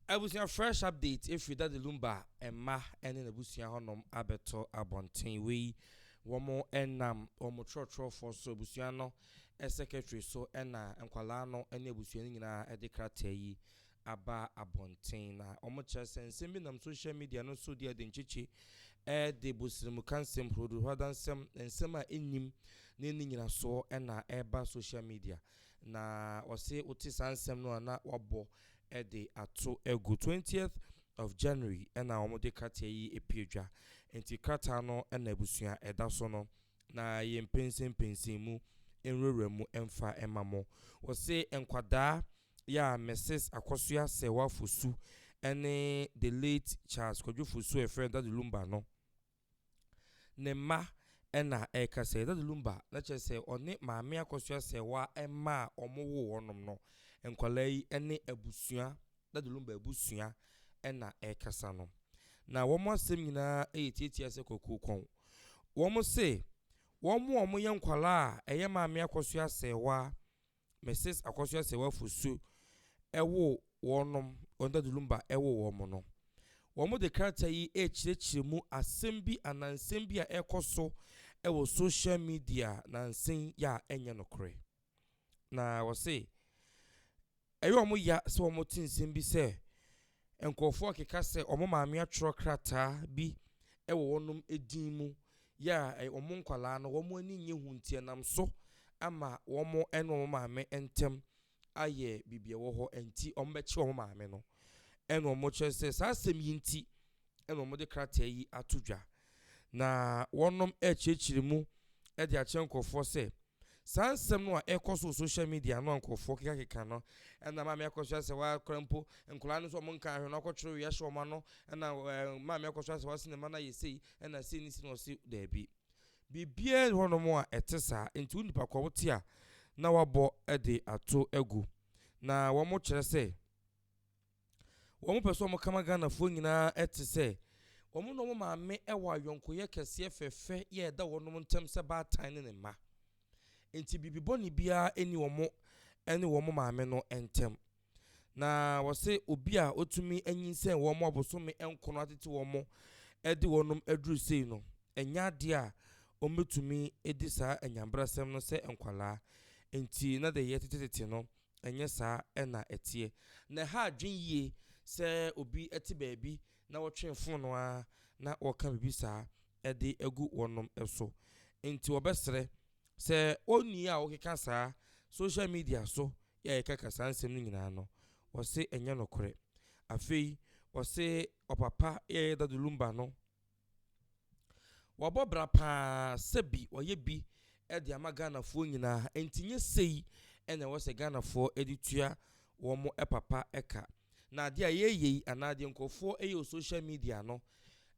Abusua Fresh update efiri Daddy Lumba mma ne n'abusua hɔnom abɛto abɔnten. Wei wɔn nam wɔn twerɛtwerɛfoɔ so abusua no secretary so na nkwadaa no ne abusua no nyinaa de krataa yi aba abɔnten. Na wɔn kyerɛ sɛ nsɛm bi nam social media no so di adenkyekye de bosirimuka nsɛm, huruduhuradansɛm, nsɛm a ɛnnim ne ne nyinasoɔ na ɛreba social media. Na ɔse wote saa nsɛm no a na wabɔ de ato agu. Twentieth of January na wɔde krataa yi pue dwa. Nti krataa no na abusua ɛda so no na yɛmpensenpensen mu nwurawura mu mfa mma mo. Wɔse nkwadaa yɛ a Mrs Akosua Serwaa Fosu ne the late Charles Kwadwo Fosu a yɛfrɛ no Daddy Lumba no. ne mma na ɛreka sɛ Dada Lumba na kyerɛ sɛ ɔne Maame Akosua Serwa mma a wɔwoo wɔnom no, nkwadaa yi ne abusua, Dada Lumba abusua na ɛrekasa no. Na wɔn asɛm nyinaa yɛ tiatia sɛ kwakuo kɔn. Wɔn se wɔn a wɔyɛ nkwadaa a ɛyɛ Maame Akosua Serwa Mrs. Akosua Sewafo Su woo wɔnom, Ondadu Lumba woo wɔn no. Wɔde krataa yi rekyerɛkyerɛ mu asɛm bi anaa nsɛm bi a ɛrekɔ so wɔ social media nansen yi a ɛnyɛ nokorɛ. Na wɔse, ɛyɛ wɔn ya sɛ wɔte nsɛm bi sɛ, Nkurɔfoɔ rekeka sɛ wɔn maame atwerɛ krataa bi wɔ wɔnom din mu yɛ a ɛ wɔn nkwadaa no wɔn ani nnye ho nti ɛnam so ama wɔn ne wɔn maame ntam ayɛ biribi ɛwɔ hɔ nti wɔbɛkye wɔn maame no ɛna wɔkyerɛ sɛ saa asɛm yi nti na wɔde krataa yi ato dwa, na wɔnom ɛrekyerɛkyerɛ mu de akyerɛ nkorɔfoɔ sɛ, saa nsɛm no a ɛrekɔ so wɔ social media no a nkorɔfoɔ kekakeka no, ɛna maame akɔ so asɛ hɔ akora mpo, nkwadaa no so wɔn nka ahwɛ no akɔtwerɛ wei ahyɛ wɔn ano, ɛna ɛɛ maame akɔ so asɛ hɔ ase ne mma no ayɛ sei, ɛna sei ne sei na ɔse daabi. Biribiara nni hɔnom a ɛte saa, nti wo nipa kɔ wote a na wabɔ de ato agu, na wɔkyerɛ sɛ, Wɔn pɛ sɛ wɔn kama Ghanafoɔ nyinaa te sɛ wɔn ne wɔn maame wɔ ayɔnkoyɛ kɛseɛ fɛfɛ yɛ ɛda wɔn ntɛm sɛ baatan ne ne mma. Nti biribi bɔne biara ɛni wɔn ne wɔn maame no ntɛm. Na wɔse obi a ɔtumi anyinsɛn wɔn abosome nkono atete wɔn de wɔn aduru sei no, ɛnyɛ adeɛ a wɔn bɛtumi ɛdi saa anyanbrasɛm no sɛ nkwalaa. Nti na deɛ yɛtetetete no Ɛnyɛ saa na ɛteɛ. Na ɛha adwene yie sɛ obi te baabi na wɔtwe fonoo ara na wɔka biribi saa de agu wɔnom so. Enti wɔbɛsrɛ sɛ onii a ɔkeka saa social media so yi a yɛkaka saa nsɛm no nyinaa no, wɔse ɛnyɛ nokorɛ. Afei wɔse ɔpapa Yaya Dadulumba no Wabɔ bra paa sɛ bi ɔyɛ bi de ama Ghanafoɔ nyinaa nti nyɛ sei na ɛwɔ sɛ Ghanafoɔ de tua wɔn papa ka. Na adeɛ a yɛyɛ yi anaa deɛ nkurɔfoɔ yɛ wɔ social media no,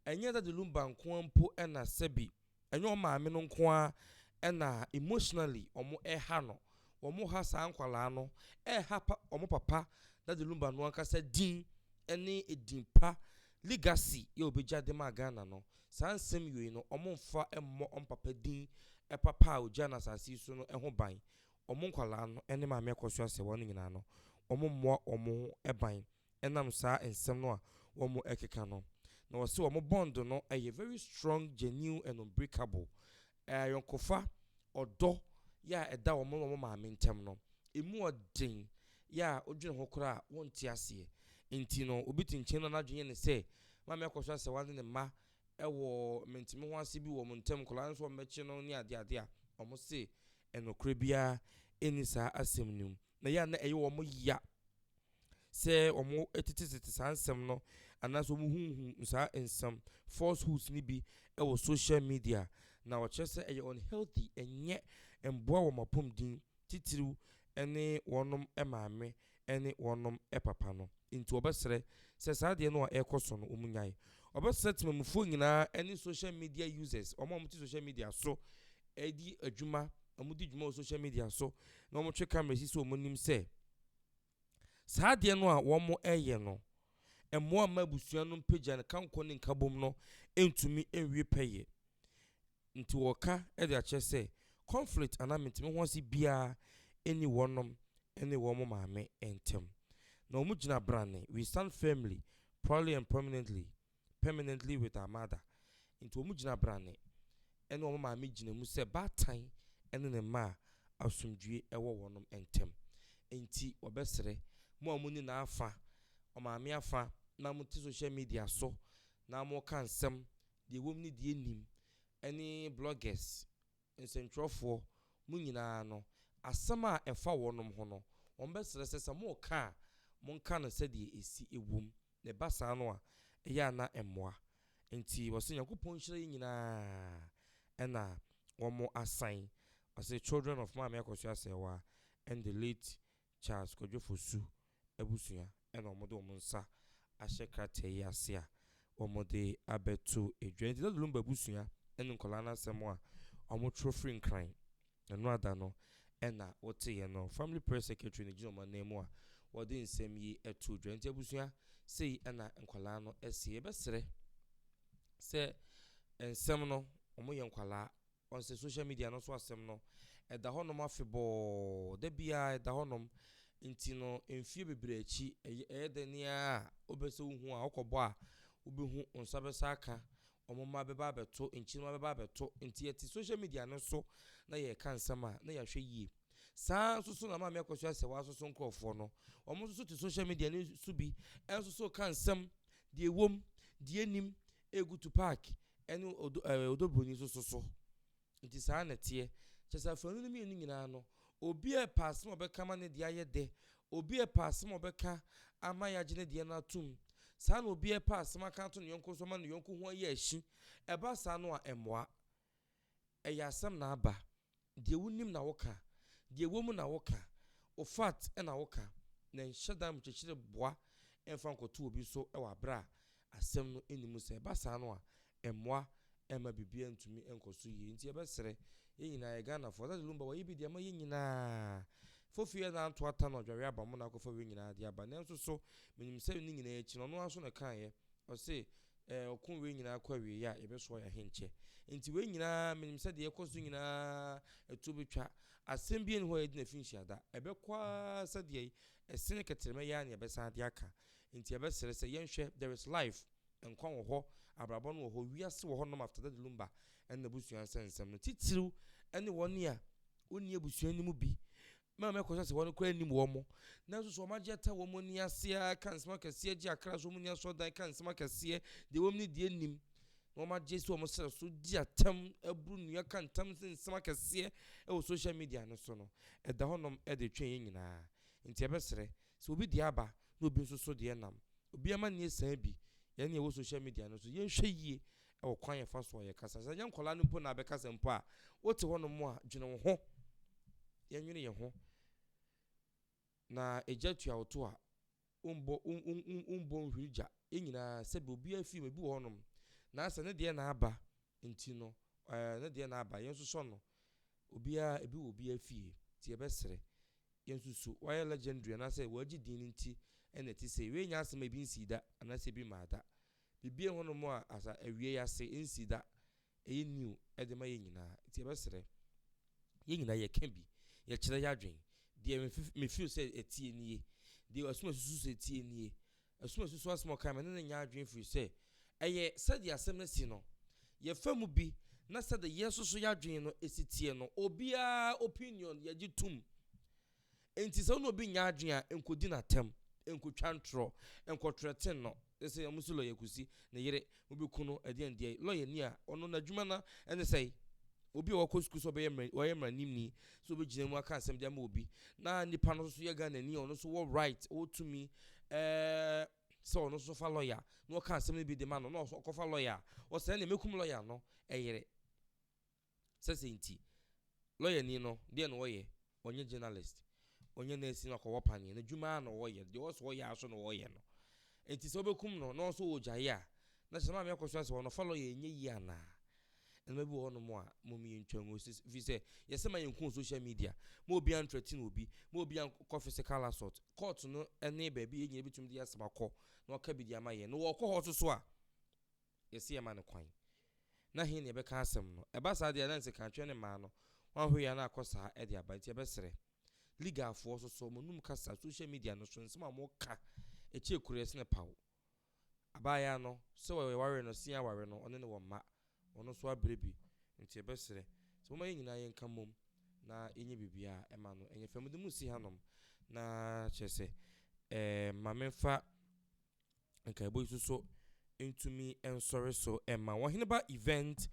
ɛnyɛ Daddy Lumba nko ara mpo na sɛ bi ɛnyɛ wɔn maame no nko ara na emotionally wɔha no. Wɔha saa nkwadaa no, ɛha pa, wɔn papa Daddy Lumba no ankasa din ne edin pa Legacy yɛ obegya de maa Ghana no, saa nsɛm yoi no ɔmo nfa mmɔ ɔmo papa din papa a ogyaa no asase yi so no ho ban. Ɔmo nkwadaa no ne Maame Akosua Serwaa no nyinaa no, ɔmo mmoa ɔmo ho ban ɛnam saa nsɛm no a ɔmo ɛkeka no. Na ɔse ɔmo bond no ɛyɛ very strong, genuine and unbreakable ayɔnkofa, ɔdɔ yɛ a ɛda wɔn ne wɔn maame ntam no, emu ɔden yɛ a wodwene ho koraa a wonte aseɛ. Enti no, obi te nkyɛn na n'adwene yɛ no sɛ, Maame akɔ so asɛ wɔne ne mma wɔ menteme ho ase bi wɔ wɔn ntam, nkwadaa no nso wɔbɛkye no ne adeade a, wɔse, Nokorɛ biara nni saa asɛm no mu. na ɛyɛ a na ɛyɛ wɔn ya sɛ wɔtetetete saa nsɛm no anaasɛ wɔhuhu saa nsɛm falsehoods no bi wɔ social media, na wɔkyerɛ sɛ ɛyɛ unhealthy, ɛnyɛ mmoa wɔn apɔmuden, titiriw ne wɔn maame ne wɔn papa no. Nti wɔbɛsrɛ sɛ saa adeɛ no a ɛrekɔ so no, wɔnyae. Wɔbɛsrɛ temamufoɔ nyinaa ne social media users, wɔn a wɔte social media so, ɛredi adwuma, wɔdi dwuma wɔ social media so na wɔtwe camera si so, wɔnim sɛ saa adeɛ no a wɔreyɛ no, mmoa mma abusua no mpagya no kankɔ ne nkabom no ntumi nwie pɛyɛ. Nti wɔka de akyerɛ sɛ conflict anaa mentimi ho ase biara nni wɔnom ne wɔn maame ntam. Na wɔgyina brane, we stand firmly, proudly and prominently permanently with her mother, nti wɔn gyina brane ɛne wɔn maame gyina mu sɛ baatan ɛne ne mma a asomdwie ɛwɔ wɔnom ɛntɛm, nti wɔbɛsrɛ mo a mo ni n'afa, ɔmaame afa na mo te social media so na mo ka nsɛm deɛ ɛwɔ mu ne deɛ ɛnnim ɛne bloggers, nsɛntwerɛfoɔ, mo nyinaa no asɛm a ɛfa wɔnom ho no wɔn bɛsrɛ sɛ sɛ mo reka a mo nka no sɛdeɛ ɛsi ɛwɔ mu. Na ɛba saa no a, ɛyɛ a na ɛmmoa. Enti wɔse Nyankopɔn nhyira yɛn nyinaa ɛna wɔn asan. Wɔse children of Maame Akosua Asɛɛwaa and the late Charles Kwadwo Fosu abusua ɛna wɔn de wɔn nsa ahyɛ krataa yi ase a wɔn de abɛto dwa. Enti na Lumba abusua ɛne nkwadaa no asɛm a wɔn twerɛ firi Nkran Ɛnoada no na woteeɛ no, Family Press Secretary no gyina wɔn ananmu a wɔde nsɛm yi too dwa. Nti abusua, sei na nkwadaa no seɛ. Yɛbɛsrɛ sɛ nsɛm no, wɔyɛ nkwadaa, wɔn sɛ social media no so asɛm no, ɛda hɔnom afebɔɔ, da biara ɛda hɔnom. Nti no, mfie bebree akyi, ɛyɛ dɛ ne a wobɛsɛ wohu a, wokɔbɔ a, wobɛhu, wo nsa bɛsa aka, wɔn mma bɛba abɛto, nkyirimma bɛba abɛto. Nti yɛte social media no so na yɛreka nsɛm a, na yɛahwɛ yie. Saa ara nso so na Maame Akosua sɛ wɔasoso nkurɔfoɔ no. Wɔn nso so te social media no so bi nso so ka nsɛm, deɛ ɛwom, deɛ ɛnim, ɛgu to park, ɛne odo ɛɛ odobroni nso so so. Nti saa na ɛteɛ. Kyerɛ sɛ afanu no mmienu nyinaa no, obi a ɛpɛ asɛm a ɔbɛka ama ne deɛ ayɛ dɛ, obi a ɛpɛ asɛm a ɔbɛka ama yɛagye ne deɛ no atom, saa na obi a ɛpɛ asɛm aka ato ne yɔnko so ama ne yɔnko ho ayɛ ahyi. Ɛba saa no a, ɛmmoa. Ɛyɛ asɛm na aba. Deɛ wonim na woka. Deɛ ɛwɔ mu na woka. Wo fact na woka. Na ɛnhyɛ da mkyekyere boa mfa nkɔto obi so wɔ aberɛ a asɛm no nni mu. Sɛ ɛba saa no a, Mmoa ɛmma biribiara ntumi nkɔ so yie nti yɛbɛsrɛ yɛn nyinaa yɛ Ghanafoɔ Asante Lumba wayɛ bi de ama yɛn nyinaa Fofie ɛna anto ata na ɔdware aba mo na akɔfa wei nyinaa de aba nanso so menim sɛ ne nyinaa akyi no ɔno ara nso na ɛkaeɛ ɔse ɛɛ ɔko wei nyinaa kɔ awieeɛ a yɛbɛsoa yɛn ahenkyɛ nti wei nyinaa menim sɛ deɛ ɛkɔ so nyinaa ɛtuo bɛtwa asɛm bi ɛni hɔ a yɛde na fi nhyia da ɛbɛkɔ ara sɛdeɛ ɛsene kɛtrɛmɛ yi ara na yɛbɛsan de aka nti yɛbɛsrɛ sɛ yɛnhwɛ there is life Nkwa wɔ hɔ, abrabɔ no wɔ hɔ, wiase wɔ hɔnom after Daddy Lumba ne n'abusua nsɛnsɛm no, titiriw ne wɔn a wonni abusua no mu bi. Mɛma mɛkɔ so ase wɔn koraa nnim wɔn, nanso so wɔn agye ata wɔn ani ase ara ka nsɛm akɛseɛ gye akra so wɔn nni asɔredan ka nsɛm akɛseɛ deɛ wɔn ne deɛ nim na wɔn agye so wɔn srɛ so di atam aburu nnua ka ntam ne nsɛm akɛseɛ wɔ social media no so no ɛda hɔnom de twe yɛn nyinaa nti ɛbɛsrɛ Sɛ obi deɛ aba na obi nso so deɛ nam, obi amanneɛ sian bi, yɛn ne yɛwɔ social media no so, yɛnhwɛ yie wɔ kwan a yɛfa so a yɛkasa. Sɛ ɛnyɛ nkwadaa no mpo na abɛkasa mpo a, wote hɔnom a, dwene wo ho. Yɛnwene yɛn ho. Na egya tua wo to a, wombɔ wombɔ nhwiri gya. Yɛn nyinaa sɛbi obiara fie mu ebi wɔ hɔnom na sɛ ne deɛ na aba Nti no ɛɛ ne deɛ na aba yɛn nso sɔ no obiara ebi wɔ obiara fie nti yɛbɛ srɛ yɛn nso su wayɛ legendary anaasɛ wagye din nti ɛna ɛte sei wei nyɛ asɛm a ebi nsii da anaasɛ ebi mmaa da biribiara hɔ nom a asa awie yɛ ase nsii da ɛyɛ new ɛde ma yɛn nyinaa nti yɛbɛ srɛ yɛn nyinaa yɛ ka bi yɛkyerɛ yɛ adwen deɛ me feel sɛ ɛtie nie deɛ asum asusu sɛ ɛtie nie Ɛso asusuw asɛm a ɔkae ma ɛne no nyaa adwene firi sɛ ɛyɛ sɛdeɛ asɛm no asi no, yɛfa mu bi, na sɛdeɛ yɛn nso so yɛn adwene no si teɛ no. Obiara opinion yɛgye tom. Enti sɛ wo ne obi nnya adwene a, nkɔdi no atɛm, nkɔtwa ntorɔ, nkɔtrɛten no. Te sɛ wɔn so lɔya Kusi ne yere Wobeku no ɛdeɛn deɛ? Lɔyani a ɔno n'adwuma no ara ne sɛn? Obi a wakɔ sukuu sɛ ɔbɛyɛ mma wayɛ mmaranimni sɛ ɔbɛgyina mu aka asɛm de ama obi na nipa no nso yɛ Ghanani a ɔno nso wɔ right ɔwɔ tumi ɛɛ sɛ ɔno nso fa lɔya na ɔka asɛm no bi de ma no na ɔkɔfa lɔya a ɔsɛ ɛne mɛkum lɔya no ɛyere. Sɛ sɛ nti, lɔyani no, deɛ na ɔyɛ? Ɔnyɛ journalist, ɔnyɛ nɛɛsi na ɔkɔwɔ panyin, n'adwuma ara na ɔyɛ, deɛ ɔsɛ ɔyɛ ara nso na ɔyɛ no. Nti sɛ wobɛkum no na ɔnso ɔregyae a, na kyerɛ sɛ maame akɔsua sɛ ɔnofa lɔya ɛnyɛ yie anaa? Nneɛma bi wɔ hɔnom a mmom yɛntwa ngu, ɛfiri sɛ yɛsɛ ma yɛnku wɔ social media, ma obiara ntrɛtene obi, ma obiara nkɔ physical assault. Court no ne baabi a yɛn nyinaa bɛtumi de yɛn asɛm akɔ na wɔaka bi de ama yɛn, na wɔkɔ hɔ nso so a, Yɛse yɛma no kwan. Na he na yɛbɛka asɛm no? Ɛba saa deɛ a na nsekanatwerɛ ne mmaa no ho ahoyea no akɔ saa de aba. Nti yɛbɛsrɛ. Legalfoɔ so so wɔnum kasa social media no so nsɛm a wɔka ɛkyɛ akureɛ sene paw. Abaayaa no sɛ wɔware no se aware no ɔne ne wɔ mma. Ɔno nso abrɛ bi. Nti yɛbɛsrɛ sɛ momma yɛn nyinaa yɛnka mmom na yɛnyɛ biribiara a ɛma no ɛnyɛ fɛ. Mede mo si hanom na kyerɛ sɛ ɛɛ ma memfa Nkaebɔ yi so nso ntumi nsɔre so mma wɔn. Heneba Event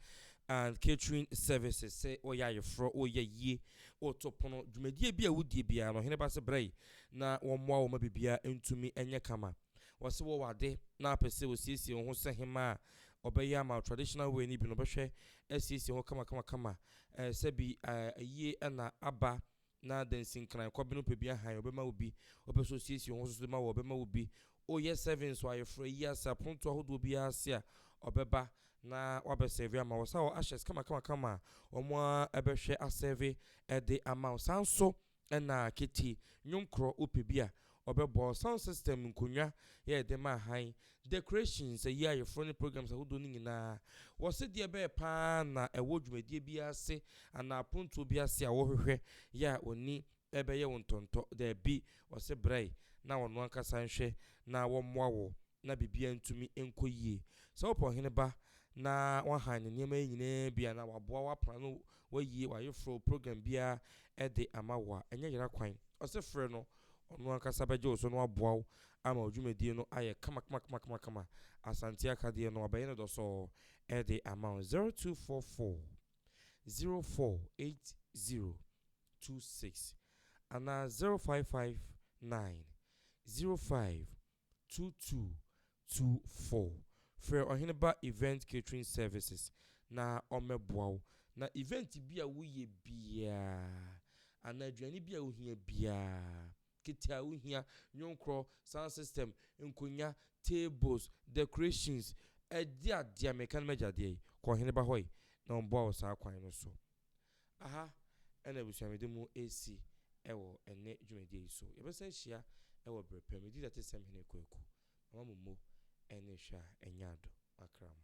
and Catering Services sɛ wɔyɛ ayeforɔ, wɔyɛ yie, wɔto pono, dwumadie bi a wodie biara no, Heneba sɛ brɛ na wɔmmoa wɔn ma biribiara ntumi nyɛ kama. Wɔse wɔwɔ ade na apɛ sɛ wɔsiesie wo ho sɛ hema a ɔbɛyɛ ama traditional way no bi no bɛhwɛ asiesie ho kama kama kama sɛ bi ayie na aba Na dansinkran, kɔbene ɔpɛ bi ahan, ɔbɛma wo bi, ɔpɛ sɛ ɔsiesie wo ho so so de ma wo a, ɔbɛma wo bi. O, yɛ sɛve nso, ayeforo, ayi ase, apontoɔ ahodoɔ biara ase a, ɔbɛba na wabɛsɛve ama wo. Saa ushers kamakamakama a wɔn ara bɛhwɛ asɛve de ama wo. Saa ara nso na Katie, nnwom korɔ, wopɛ bi a, Wɔbɛbɔɔ sound system, nkonnwa, yɛ ɛde maa hann, decorations, ayi ayeforo ne programs ahodoɔ no nyinaa. Wɔse deɛ ɛbɛyɛ paa ara na ɛwɔ dwumadie biara ase anaa apontoɔ bi ase a wohwehwɛ yɛ a ɔni ɛbɛyɛ wo ntɔntɔ, daabi, ɔse brɛ na ɔno ankasa nhwɛ na wɔmmoa wo. na biribiara ntumi nkɔ yie. Sɛ wopɛ ɔhene ba na wahan ne nneɛma yi nyinaa bi a, na waboa wo, wapra no, wayi w'ayeforo, program biara de ama wo a, ɛnyɛ yera kwan. Ɔse frɛ no, ɔno ankasa bɛgye wo so na waboa wo ama wo dwumadie no ayɛ kamakamakama. Asante akadeɛ no, wabɛyɛ no dɔsɔɔ de ama wo. 0244 048026 anaa 0559 05 Two two two four Frɛ Ɔhene Ba Event Catering Services na wɔmmɛboa wo na event bi a woyɛ biara anaa aduane bi a wohia biara, kete a wohia, nnwonkorɔ, sound system, nkonnwa, tables, decorations, ɛde adeɛ a meka no m'agya adeɛ yi, kɔ Ɔhene Ba hɔ yi na wɔmmoa wo saa kwan no so. Aha na abusuamede mu resi wɔ ɛnnɛ dwumadie yi so. Yɛbɛsan ahyia wɔ berɛ pa. Medi Datesɛm Hene Kwaku Mama mo mo ne hwɛ a ɛnyɛ ado akra mo.